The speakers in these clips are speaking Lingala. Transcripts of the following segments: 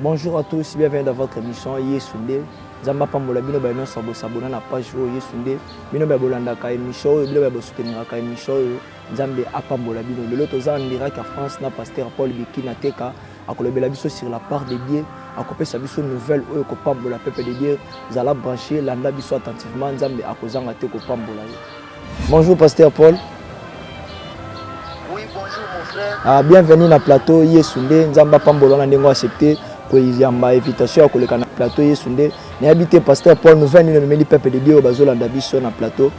Bonjour à tous, bienvenue dans votre émission Yesunde. Nzambe apambola bino baye nyonso bosabona na page oyo Yesunde. Bino baye bolandaka émission oyo, bino baye bosuteniraka émission oyo. Nzambe apambola bino. Lelo toza en direct à France na pasteur Paul Bikina Teka akolobela biso sur la part de Dieu, akopesa biso nouvelle oyo kopambola peuple de Dieu. Zala branché, landa biso attentivement, Nzambe akozanga te kopambola yo. Bonjour pasteur Paul. Oui, bonjour mon frère. Ah, bienvenue na plateau Yesu nde Nzambe apambola na ndenge accepter koyamba invitation ya koleka na plateau Yesu nde nayebi te pasteur Paul nouvelle nini omemeli peuple de Dieu oyo bazolanda biso na plateau.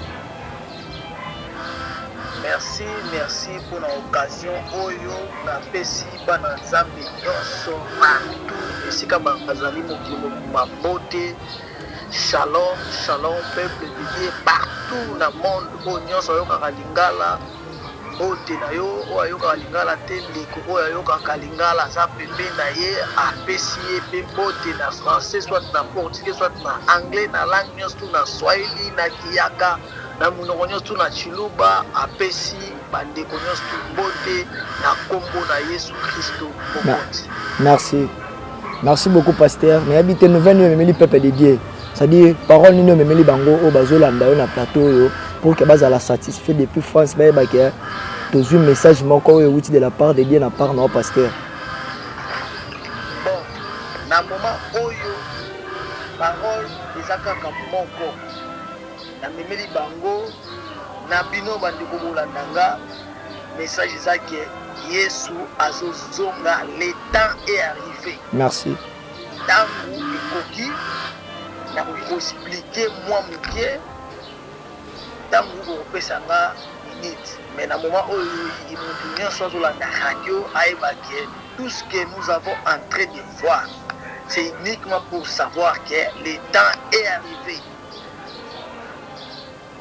Merci merci pona occasion oyo na pesi bana nzambe nionso partout esika bazali mokili mobimba mbote shalom shalom peuple de Dieu partout na monde oyo nionso ayokaka lingala mbote na yo oyo ayokaka lingala te ndeko oyo ayokaka lingala aza pembe na ye apesi ye pe mbote na français soit na portugais soit na anglais na langue nionso tu na swahili na kiyaka Na monoko nyonso, to na Tshiluba, apesi bandeko nyonso mbote na kombo na Yesu Kristo Mokonzi. Merci. Merci beaucoup, pasteur. Mais habitez nous venez memeli peuple de Dieu. C'est-à-dire, parole nous memeli bango au bazo landa na plateau yo pour que bas à la satisfait depuis France ba ba que tous un message moko yo outil de la part de Dieu na part na pasteur. Bon, na moment oyo parole ezaka moko Na memeli bango na bino ba ndeko bolanda nga message eza que yesu azo zonga le temps est arrive. Merci. Tangu ekoki nakoki ko expliquer mua mukie tangu bokopesa nga minute mais na moment oyo mutu nionso azo landa radio ayeba que tout ce que nous avons entre de voir c'est uniquement pour savoir que le temps est arrive.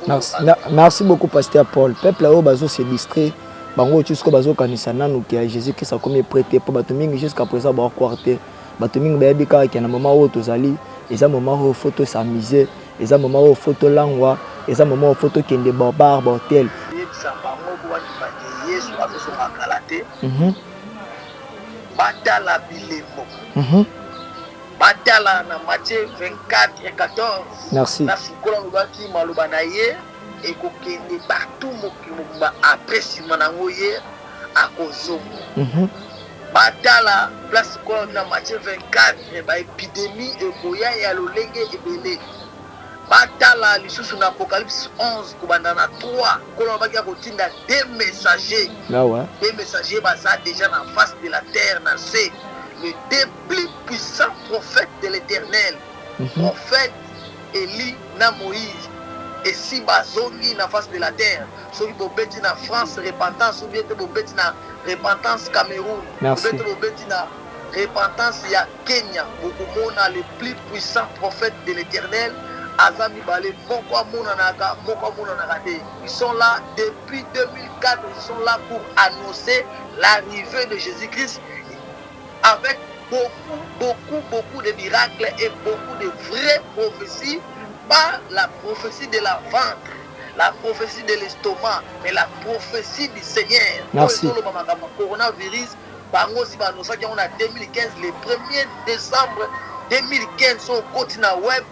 Merci, merci beaucoup pasteur Paul. Peuple oyo bazo se distraire bango oyo sikoyo bazokanisa nanu ke ya jésus krist akomi epre te mpo bato mingi jusqu'à présent baokwar te bato mingi bayebi kaka ke na moma oyo tozali eza moma oyo fo tosamise eza moma oyo fo tolangwa eza moma oyo fo tokende babar bahotel mhm. batala bilembo mhm. Batala na Matthieu 24, 14. Merci. Na Foucault alobaki maloba na ye ekokende partout mokili mobimba après sima na yango ye akozongo. Mm -hmm. Batala place Foucault na Matthieu 24 ba epidemie ekoya ya lolenge ebele. Batala lisusu na Apocalypse 11 kobanda na 3 Nkolo alobaki akotinda deux messagers. Ah ouais. Deux messagers baza déjà na face de la terre na se le deux plus puissant prophète de l'eternel prophète Elie na Moïse esi bazongi na face de la terre soki bobeti na France repentance ou bien te bobeti na repentance Cameroun ou Merci. bien te bobeti na repentance ya Kenya bokomona le plus puissant prophète de l'eternel aza mibale moko amonanaka moko amonanaka te ils sont là depuis 2004 ils sont là pour annoncer l'arrivée de Jésus-Christ avec beaucoup beaucoup beaucoup de miracle et beaucoup de vrai prophetie pas la prophetie de la ventre la prophetie de l'estomac mais la prophetie du seigneur merci solo makambo coronavirus bango aussi banosaki yango na 2015 le 1er décembre 2015 so okoti na web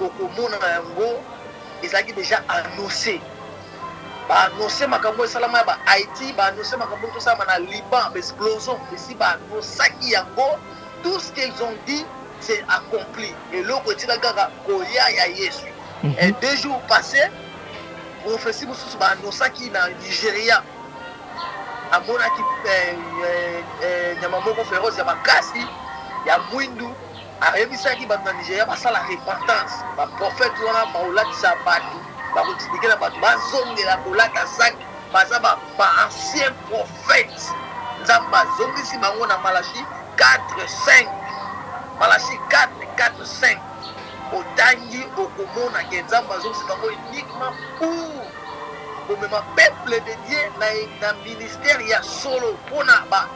okomona yango ezalaki déjà annoncé Ba annoncer makambo oyo esalama ya ba Haiti, ba annoncer makambo oyo ezosalama na Liban, ba explosion esi ba annosaki yango, tout ce qu'ils ont dit c'est accompli, eloko etikali kaka koya ya Yesu. Et deux jours passe, prophetie mosusu ba annosaki na Nigeria, amonaki eh, eh, eh, nyama moko feroce ya makasi ya mwindu Ayebisaki bato na Nigeria basala repentance. Ba prophètes wana bakolatisa bato, bakotindikela bato bazongela kolata sac. Baza ba anciens prophètes. Nzambe azongisi bango na Malachie quatre, cinq. Malachie quatre, quatre, cinq. Otangi, okomona que Nzambe azongisi bango uniquement pour komema peuple de Dieu na ministère ya solo pona ba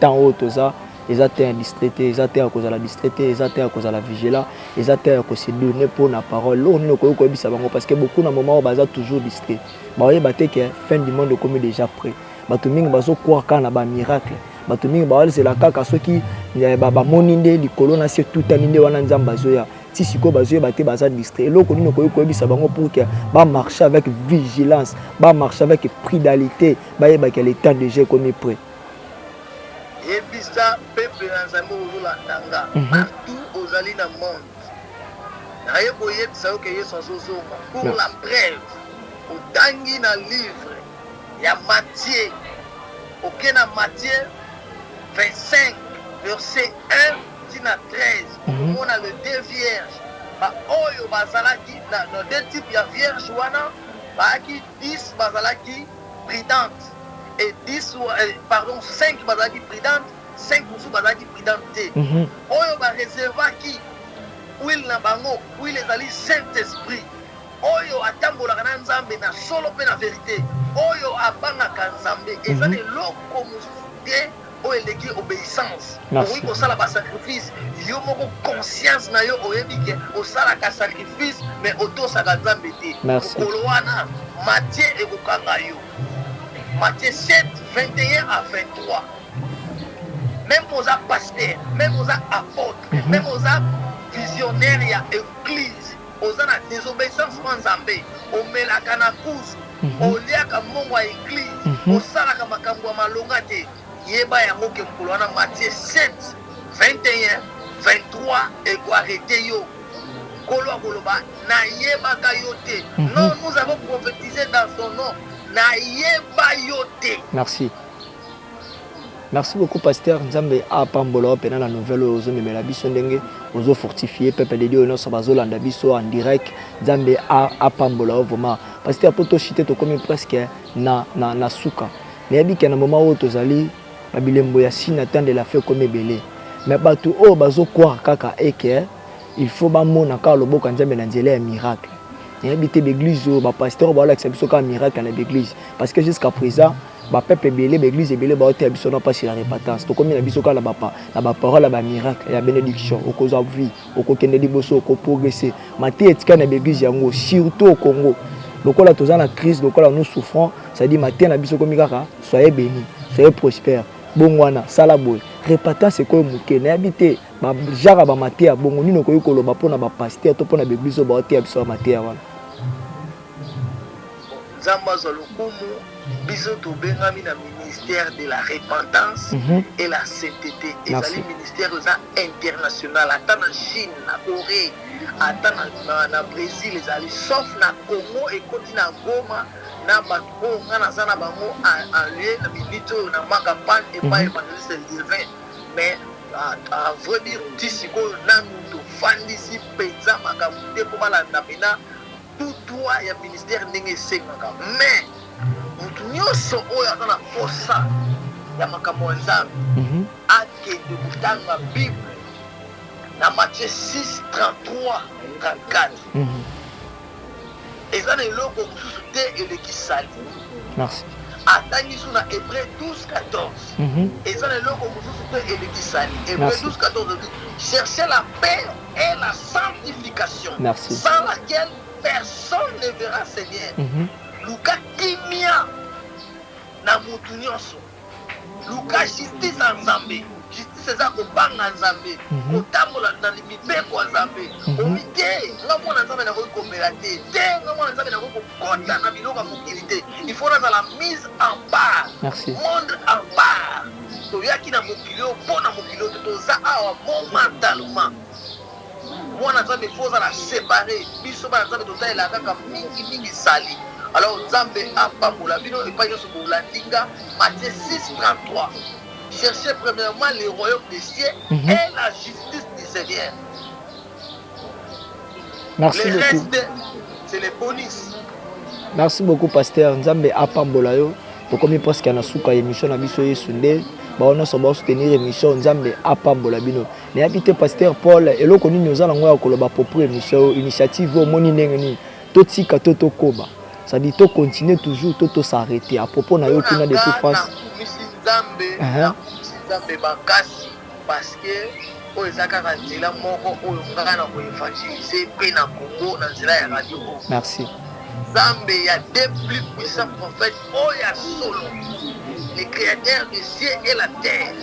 Temps oyo toza eza temps ya distrait te, eza temps ya kozala distrait te, eza temps ya kozala vigila, eza temps ya ko se donner mpo na parole. Eloko nini okoki koyebisa bango parce que beaucoup na moment oyo baza toujours distrait. Bakoyeba te que fin du monde ekomi dejà près. Bato mingi bazo croire kaka na ba miracle. Bato mingi bazela kaka soki eh, bamoni nde likolo na se tutani nde wana Nzambe azoya. ti sikoyo bazoyeba te baza distrait eloko nini okoki koyebisa bango pour que bamarche avec vigilance bamarche avec prudalité bayebaka le temps déjà ekomi près Yebisa peuple na nzambe oyo ozolanda nga partout ozali na monde naye koyebisa yo ke yesu azozonga pour la preuve otangi na livre ya matie oke na matie 25 verset 1 ti na 13 okomona le deux vierge baoyo bazalaki na deux type ya vierge wana bayaki 10 bazalaki prudentes et 10 pardon 5 bazalaki prudentes 5 mosusu bazalaki prudentes te mm -hmm. oyo ba reservaki huile na bango huile ezali saint esprit oyo atambolaka na nzambe na solo mpe na verite oyo abangaka nzambe eza na mhm. eloko mosusu te oyo eleki obeissance okoki kosala ba sacrifice yo moko conscience na yo oyebi ke osalaka sacrifice mais otosaka nzambe te mokolo wana matie ekokanga yo matie 7 21 à 23 même oza pasteur même oza apotre mhm. même oza visionnaire ya église Oza na desobeissance mwa nzambe, omelaka na kuzu, oliaka mbongo ya eglise, osalaka makambu ya malonga te, yeba yango ke mukolo wana Matthieu 7, 21, 23 eko arreter yo, nkolo akoloba na yebaka yo te, non nous avons prophetise dans son nom, na yeba yo te. Merci. Merci beaucoup pasteur nzambe a pambola yo pena na nouvelle oyo ozomemela biso ndenge ozo fortifie peuple de Dieu oyo nyonso bazolanda biso en direct nzambe a a pambola yo vraiment pasteur po toshite tokomi presque na, na, na suka nayebi ke na moment oyo tozali na bilembo ya si na temps de la fin ekomi ebele mais bato oyo bazokwara kaka eke il faut bamona kaka loboko ya nzambe na nzela ya miracle nayebi te baeglise oyo bapasteur oyo baolakisa biso kaka miracle na baeglise parce que jusqu'à présent mm -hmm. Ba peuples ebele, ba eglises ebele ba oteya biso na pasi ya repentance. Tokomi na biso kaka na ba na ba paroles ya ba miracles, ya benediction. Okozwa vie, okokende liboso, oko progresser. Mateya etikali na ba eglises yango, surtout au Congo. Lokola toza na crise, lokola nous souffrons, c'est à dire mateya na biso ekomi kaka soyez beni, soyez prospère, bongwana, sala boye. Repentance ekomi moke. Nayebi te ba genre ya ba mateya bongo nini okoki koloba mpo na ba pasteurs to mpo na ba eglises oyo ba oteya biso ba mateya wana. Nzambe azwa lokumu, biso tobengami na ministère de la repentance et la saintete, ezali ministère oyo eza international, ata na Chine, na Coree, ata na Bresil ezali, sauf na Congo ekoti na Goma na batu oyo nga naza na bango en lien na minute oyo na Maka Pan epai evangeliste Lievin, mais à vrai dire ti sikoyo nanu tofandisi penza makambo te mpo balanda pena tout droit ya ministère ndenge esengaka mais mutu nyonso oyo aza na posa ya makambo ya nzambe mhm. akende kotanga bible na matie 6 33 34 eza na eloko mosusu te eleki sali atangi so na hébreu 12 14 mhm. eza na eloko mosusu te eleki sali hébreu 12 14 cherche la paix est la sanctification Merci. sans laquelle personne ne verra Seigneur. Mm -hmm. Luka kimia na mutu nyonso. Luka justice ya Nzambe. Justice eza kobanga Nzambe, mhm. kotambola na mibeko ya Nzambe. Mhm. Omi te, nga mwana Nzambe nakoki komela te. Te, nga mwana Nzambe nakoki Kotya na biloko ya mokili te. Il faut nazala mise en part. Merci. Monde en part. Toyaki na mokili oyo mpo na mokili oyo te. Toza awa momentalement. Mwana Nzambe il faut ozala separe. Biso bana Nzambe totalela kaka mingi mingi sali. Alors Nzambe apambola bino epai nyonso bolandi nga Matthieu 6 33. Cherchez premièrement le royaume des cieux mm -hmm. et la justice du Seigneur. merci beaucoup merci beaucoup pasteur nzambe apambola yo tokomi presque na suka ya émission na biso yesu nde bango nyonso baosoutenir émission nzambe apambola bino nayebi te pasteur paul eloko nini oza nango ya koloba propre émission oyo initiative oyo omoni ndenge nini totika to tokoba cestadi to continue toujours to tosarrete à propos na yo kuna depuis france Parce que oyo eza kaka nzela moko oyo nga na ko evangeliser pe na Congo na nzela ya radio oyo. Merci. Nzambe ya deux plus puissants prophètes oyo ya solo, le createur de cieux et la terre,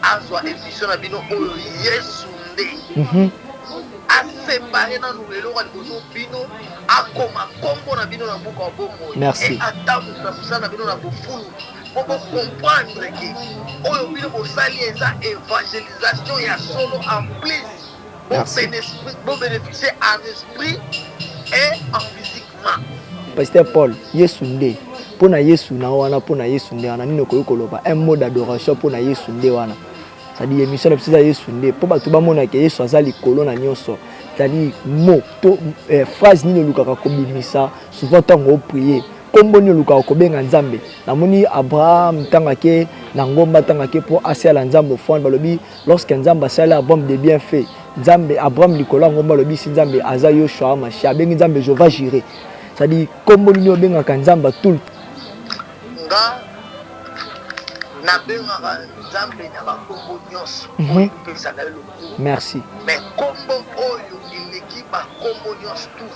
azwa emission na bino oyo Yesu nde. Mm -hmm. asepare nanu eloko ya liboso bino akoma nkombo na bino na buku ya bomoi e atambusa mosala na bino na bofulu boko comprendre que oyo bino bosali eza evangelisation ya solo en plus bo bénéficier en esprit et en physiquement pasteur paul yesu nde mpo na yesu na wana mpo na yesu nde wana nini okoki koloba un mot d'adoration mpo na yesu nde wana cestadire émission na biso eza yesu nde mpo bato bamonaka yesu aza likolo na nyonso cestadire mot to eh, phrase nini olukaka kobimisa souvent ntango oprie Kombo nini olukaka kobenga Nzambe? Namoni Abraham ntango ake na ngomba ntango ake mpo asala Nzambe ofrande balobi lorsque Nzambe asali Abraham de bien fait Nzambe Abraham likolo ya ngomba alobi si Nzambe aza Yoshua Mashiach abengi Nzambe Jehovah Jireh c'est-à-dire kombo nini obengaka Nzambe tout le nga nabengaka Nzambe na bakombo nyonso mhm. opesaka ye lokumu merci mais kombo oyo eleki bakombo nyonso tout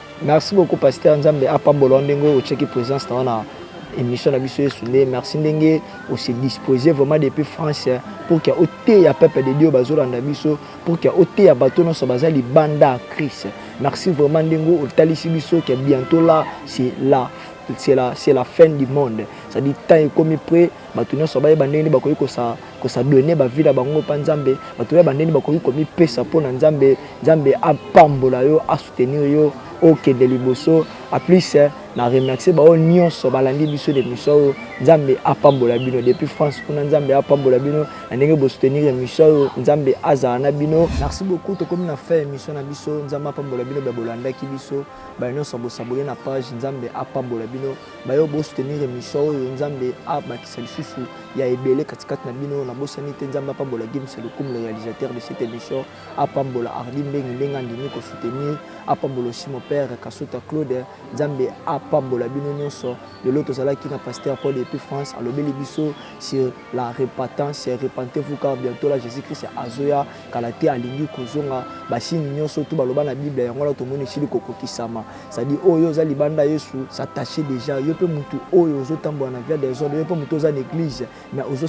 Merci beaucoup pasteur Nzambe apambola yo ndenge otyaki présence na yo na émission na biso yesu nde merci ndenge ose disposer vraiment depuis france pour ke oteya peuple de dieu bazolanda biso pour ke oteya bato nyonso baza libanda ya christ merci vraiment ndenge otalisi biso ke bientôt là c'est la c'est la, c'est la fin du monde c'est-à-dire temps ekomi près Bato nyonso bayeba ndenge nini bakoki kosadone bavie na bango mpa Nzambe. Bato bayeba ndenge nini bakoki komipesa mpo na Nzambe. Nzambe apambola yo, asoutenir yo okende liboso. A plus na remercier baoyo nyonso balandi biso na emission oyo. Nzambe apambola bino depuis France kuna. Nzambe apambola bino na ndenge bo soutenir emission oyo. Nzambe azala na bino. Merci beaucoup tokomi na fin ya emission na biso. Nzambe apambola bino baye bolandaki biso, baye nyonso bo s'abonner na page. Nzambe apambola bino. Bayo bo soutenir emission oyo nzambe a bakisa lisusu ya ebele kati kati na bino na bosani te nzambe apambola Gims Lukum le realisateur de cette emission apambola Hardy Mbengi ndenge andimi ko soutenir apambola aussi mon père Kasuta Claude nzambe apambola bino nionso lelo tozalaki na pasteur Paul depuis France alobeli biso sur la repentance repentez vous car bientot la Jesus Christ azoya kala te alingi kozonga basini nyonso tu baloba na bible yango wana tomoni esili kokokisama cestadi oyo oza libanda yesu s'attache déjà yo mpe motu oyo ozotambola na via desordre yo mpe motu oza na eglise mais ozo